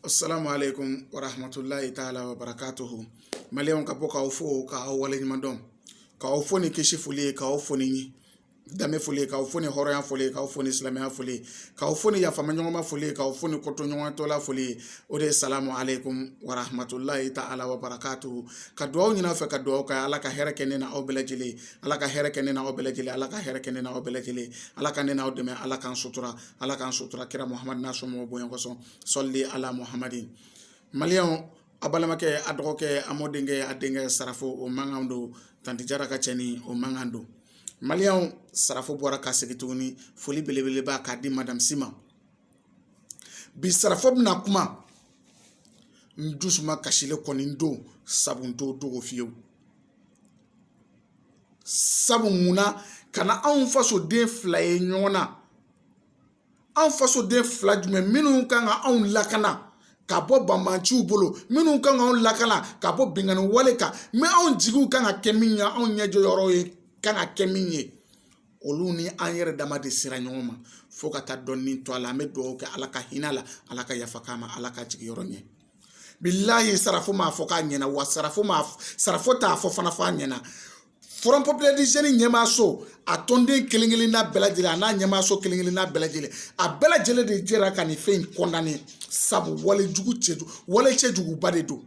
assalamu alaikum warahmatullahi taala wabarakatuhu maliyɛnw ka bɔ k'aw fo k'aw waleɲuman dɔn k'aw fo ni kisi foli ye k'aw fo ni danbe foli k'aw fo ni hɔrɔnya foli k'aw fo ni silamɛya foli k'aw fo ni yafamaɲɔgɔnma foli k'aw fo ni kotoɲɔgɔntala foli o de ye salamu aleykum warahmatulahi ta ala wabarakatu ka dugawu ɲin'a fɛ ka dugawu kɛ ala ka hɛrɛ kɛ ne na aw bɛɛ lajɛlen ala ka hɛrɛ kɛ ne na aw bɛɛ lajɛlen ala ka hɛrɛ kɛ ne na aw bɛɛ lajɛlen ala ka ne n'aw dɛmɛ ala k'an sutura ala k'an sutura kira muhamadu n'a somɔgɔw bonya kosɔn sɔli ala muhamadu maliyɛnw a balimakɛ a dɔgɔkɛ a mɔdenkɛ a denkɛ sarafo o mankan don tanti jara ka cɛnin o mankan don maliyɛnw sarafo bɔra ka segin tuguni foli belebeleba k'a di madamu si ma bi sarafo bɛna kuma n dusu makasilen kɔni don sabu n t'o dogo fiyewu sabu mun na ka na anw fasoden fila ye ɲɔgɔn na anw fasoden fila jumɛn minnu kan ka anw lakana ka bɔ banbanciw bolo minnu kan ka anw lakana ka bɔ binkanni wale kan mɛ anw jigiw kan ka kɛ min ye anw ɲɛjɔyɔrɔw ye kan ka kɛ min ye olu ni an yɛrɛ dama de sera ɲɔgɔn ma fo ka taa dɔ nin to a la an bɛ dugawu kɛ ala ka hin'a la ala ka yafa k'a ma ala k'a jiginyɔrɔ ɲɛ bilahi sarafo m'a fɔ k'a ɲɛna wa sarafo m'a sarafo t'a fɔ fana f'a ɲɛna forum populaire du jeune ɲɛmaaso a tɔnden kelen kelen n'a bɛɛ lajɛlen a n'a ɲɛmaaso kelen kelen n'a bɛɛ lajɛlen a bɛɛ lajɛlen de jɛra ka nin fɛn in kɔndane sabu wale jugu cɛ wale cɛjuguba de don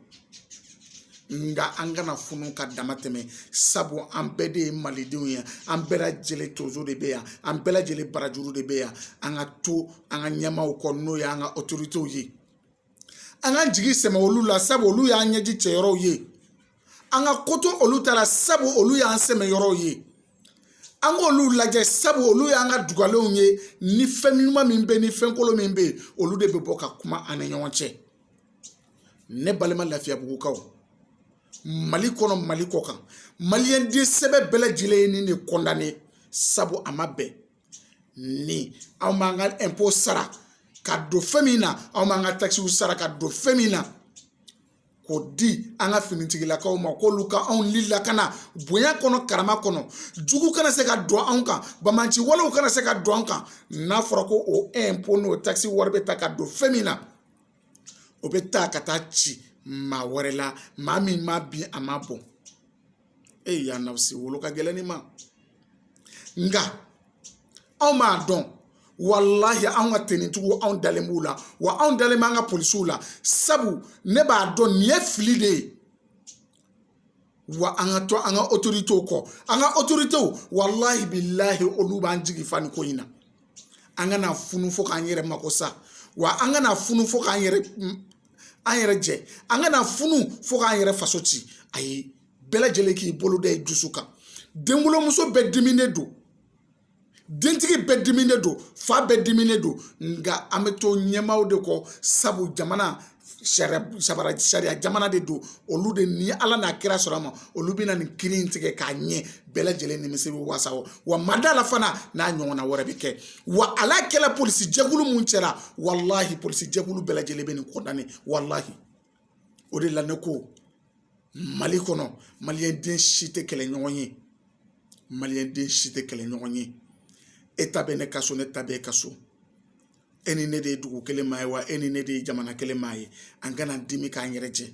nga an kana funu ka dama tɛmɛ sabu an bɛɛ de ye malidenw ye an bɛɛ lajɛlen tonso de bɛ yan an bɛɛ lajɛlen barajuru de bɛ yan an ka to an ka ɲɛmaaw kɔ n'o ye an ka otoritew ye an ka jigi sɛmɛ olu la sabu olu y'an ɲɛji cɛ yɔrɔw ye an ka ko to olu ta la sabu olu y'an sɛmɛ yɔrɔw ye an k'olu lajɛ sabu olu y'an ka dugalenw ye ni fɛn ɲuman min bɛ ni fɛn kolon min bɛ yen olu de bɛ bɔ ka kuma an ni ɲɔgɔn cɛ ne balima lafiyabugukaw mali kɔnɔ mali kɔ kan maliyɛn den sɛbɛ bɛɛ lajɛlen ye nin de kɔndane sabu a ma bɛn ni anw b'an ka ɛnpo sara ka don fɛn min na anw b'an ka takisiw sara ka don fɛn min na k'o di an ka finitigilakaw ma k'olu ka anw ni lakana bonya kɔnɔ karama kɔnɔ jugu kana se ka don anw kan banbanci walew kana se ka don an kan n'a fɔra ko o ɛnpo n'o takisi wari bɛ ta ka don fɛn min na o bɛ ta ka taa ci maa wɛrɛ la maa min ma bin a ma bon e y'a na se wolo ka gɛlɛn ni ma nka anw m'a dɔn walahi anw ka tenitigiw anw dalen b'u la wa anw dalen b'an ka polisiw la sabu ne b'a dɔn nin ye fili de ye wa an ka to an ka otoritew kɔ an ka otoritew walahi bilahi olu b'an jigi fa nin ko in na an kana funu fo k'an yɛrɛ mako sa wa an kana funu fo k'an yɛrɛ an yɛrɛ jɛ an kana funu fo k'an yɛrɛ faso ci ayi bɛɛ lajɛlen k'i bolo da i dusu kan denwolomuso bɛɛ diminen don dentigi bɛɛ diminen don fa bɛɛ diminen don nka an bɛ to ɲɛmaaw de kɔ sabu jamana sariya jamana de don olu de ni ala n'a kira sɔnna a ma olu bɛna nin kiiri in tigɛ k'a ɲɛ bɛɛ lajɛlen nimisi bɛ wasa o wa n ma da a la fana n'a ɲɔgɔnna wɛrɛ bɛ kɛ wale kɛla polisi jɛkulu min cɛla walahi polisi jɛkulu bɛɛ lajɛlen bɛ nin kɔndane walahi o de la ne ko mali kɔnɔ maliyɛnden si tɛ kɛlɛɲɔgɔn ye maliyɛnden si tɛ kɛlɛɲɔgɔn ye e ta bɛ ne ka so ne ta bɛ e ka so e ni ne de ye dugu kelen maa ye wa e ni ne de ye jamana kelen maa ye an kana dimi k'an yɛrɛ jɛ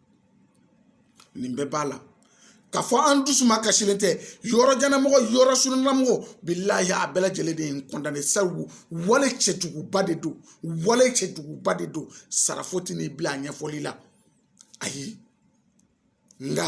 nin bɛɛ b'a la k'a fɔ an dusuma kasilen tɛ yɔrɔjannamɔgɔ yɔrɔsurunnamɔgɔ bilahi a bɛɛ lajɛlen de y'a kɔndane sabu wale cɛjuguba de don wale cɛjuguba de don sarafo tɛna i bila a ɲɛfɔli la ayi nka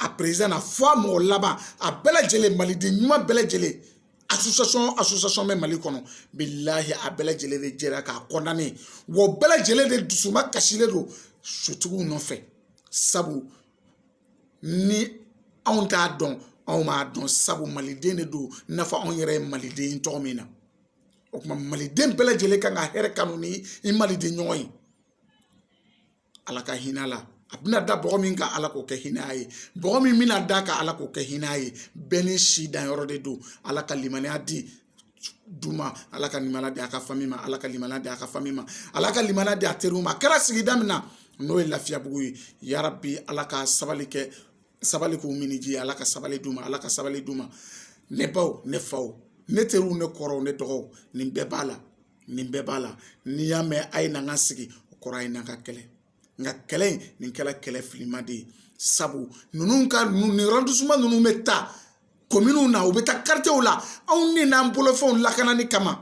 a peresidan na fo a mɔgɔ laban a bɛɛ lajɛlen maliden ɲuman bɛɛ lajɛlen association association bɛ mali kɔnɔ bilahi a bɛɛ lajɛlen de jɛra k'a kɔndane wa o bɛɛ lajɛlen de dusuma kasilen don sutigiw nɔfɛ sabu ni anw t'a dɔn anw m'a dɔn sabu maliden de don i n'a fɔ anw yɛrɛ ye maliden ye cogo min na o tuma maliden bɛɛ lajɛlen kan ka hɛrɛ kanu ni i maliden ɲɔgɔn ye ala ka hinɛ a la a bɛna da bɔgɔ min kan ala k'o kɛ hinɛ ye bɔgɔ min bɛna da a kan ala k'o kɛ hinɛ ye bɛɛ n'i si danyɔrɔ de don ala ka limaniya di du ma ala ka limaniya di a ka fami ma ala ka limaniya di a ka fami ma ala ka limaniya di a teriw ma a kɛra sigida min na n'o ye lafiyabugu ye yarabi ala ka sabali kɛ sabali k'u minniji ala ka sabali d'u ma ala ka sabali d'u ma ne baw ne faw ne teriw ne kɔrɔw ne dɔgɔw nin bɛɛ b'a la nin bɛɛ b'a la n'i y'a mɛn a ye na an ka sigi o kɔrɔ a ye na an ka kɛlɛ nka kɛlɛ in nin kɛra kɛlɛ filima de ye sabu ninnu ka nin arɔndisiman ninnu bɛ taa kominw na u bɛ taa karitiyew la anw de n'an bolofɛnw lakanani kama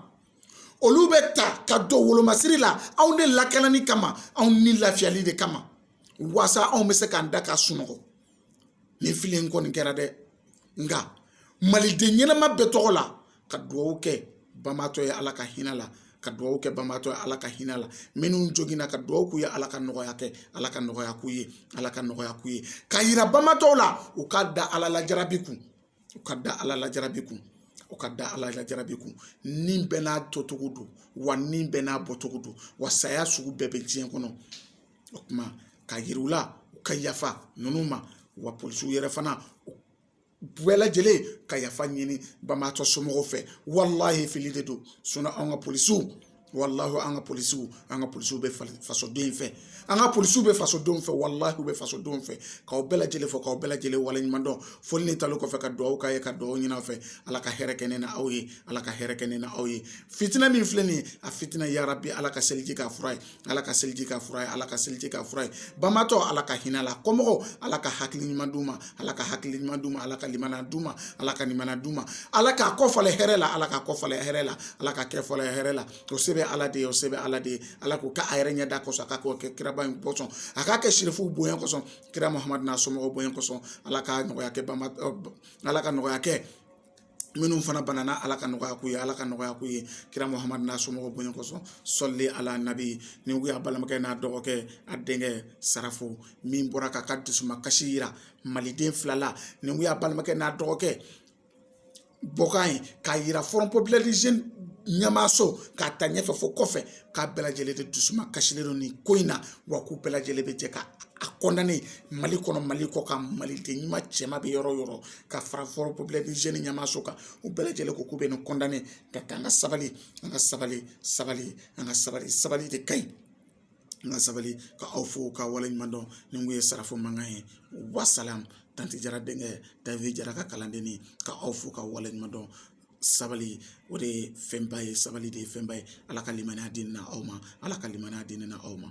olu bɛ taa ka don wolomasiri la anw de lakanani kama anw ni lafiyali de kama waasa anw bɛ se k'an da ka sunɔgɔ nin fili in kɔni kɛra dɛ nka maliden ɲɛnama bɛɛ tɔgɔ la ka dugawu kɛ banbaatɔ ye ala ka hinɛ la ka dugawu kɛ banbaatɔ ye ala ka hinɛ la minnu joginna ka dugawu k'u ye ala ka nɔgɔya kɛ ala ka nɔgɔya k'u ye ala ka nɔgɔya k'u ye ka yira banbaatɔw la u ka da ala la jarabi kun u ka da ala la jarabi kun u ka da ala la jarabi kun ni bɛɛ n'a tocogo don wa ni bɛɛ n'a bɔcogo don wa saya sugu bɛɛ bɛ diɲɛ kɔnɔ o kuma k'a yira u la u ka yafa ninnu ma wa polisiw yɛrɛ fana u bɛɛ lajɛlen ka yafa ɲini banbaatɔ somɔgɔw fɛ walahi fili de don an ka polisiw walahi an ka polisiw an ka polisiw bɛ fasoden fɛ an ka polisiw bɛ fasodenw fɛ walahi u bɛ fasodenw fɛ k'aw bɛɛ lajɛlen fo k'aw bɛɛ lajɛlen waleɲuman dɔn foli ni tanu kɔfɛ ka dugawu k'aw ye ka dugawu ɲini aw fɛ ala ka hɛrɛ kɛ ne n'aw ye ala ka hɛrɛ kɛ ne n'aw ye fitinɛ min filɛ nin ye a fitinɛ yarabi ala ka seliji k'a fura ye ala ka seliji k'a fura ye ala ka seliji k'a fura ye banbaatɔ ala ka hinɛ la kɔmɔgɔw ala ka hakili ɲuman d'u ma ala ka hakili ɲuman d'u ma ala ka limaniya d'u ma ala ka limaniya d'u ma ala k'a kɔ falen hɛrɛ la ala k'a kɔ falen hɛrɛ la ala ka kɛ fɔlɔ hɛrɛ la o se bɛ ala de ye o se bɛ ala de ye ala k'o kɛ a yɛrɛ ɲɛda kosɔn ala k'o kɛ kiraba in kosɔn a k'a kɛ sirifuw bonya kosɔn kira muhamadu n'a somɔgɔw bonya kosɔn ala ka nɔgɔya kɛ banba ala ka nɔgɔya kɛ minnu fana banana ala ka nɔgɔya k'u ye ala ka nɔgɔya k'u ye kira muhamadu n'a somɔgɔw bonya kosɔn sɔli ala nabi nin kun y'a balimakɛ n'a dɔgɔkɛ a denkɛ sarafo min bɔra k'a ka dusuma kasi yira maliden fila la nin kun y'a balimakɛ n'a dɔgɔkɛ bɔkan ye k'a yira front populaire des jeunes ɲɛmaaso k'a ta ɲɛfɛ fo kɔfɛ k'a bɛɛ lajɛlen de dusuma kasilen don nin ko in na wa k'u bɛɛ lajɛlen bɛ jɛ k'a kɔndane mali kɔnɔ mali kɔkan maliden ɲuman cɛma bɛ yɔrɔ o yɔrɔ ka fara front populaire des jeunes ɲɛmaaso kan u bɛɛ lajɛlen ko k'u bɛ nin kɔndane ka taa an ka sabali an ka sabali sabali an ka sabali sabali de ka ɲi an ka sabali ka aw fo ka waleɲuman dɔn nin kun ye sarafo mankan ye wasalamu tanti jara denkɛ davi jara ka kalanden ye ka aw fo ka waleɲuman dɔn sabali o de ye fɛnba ye sabali de ye fɛnba ye ala ka limaniya di ne n'aw ma ala ka limaniya di ne n'aw ma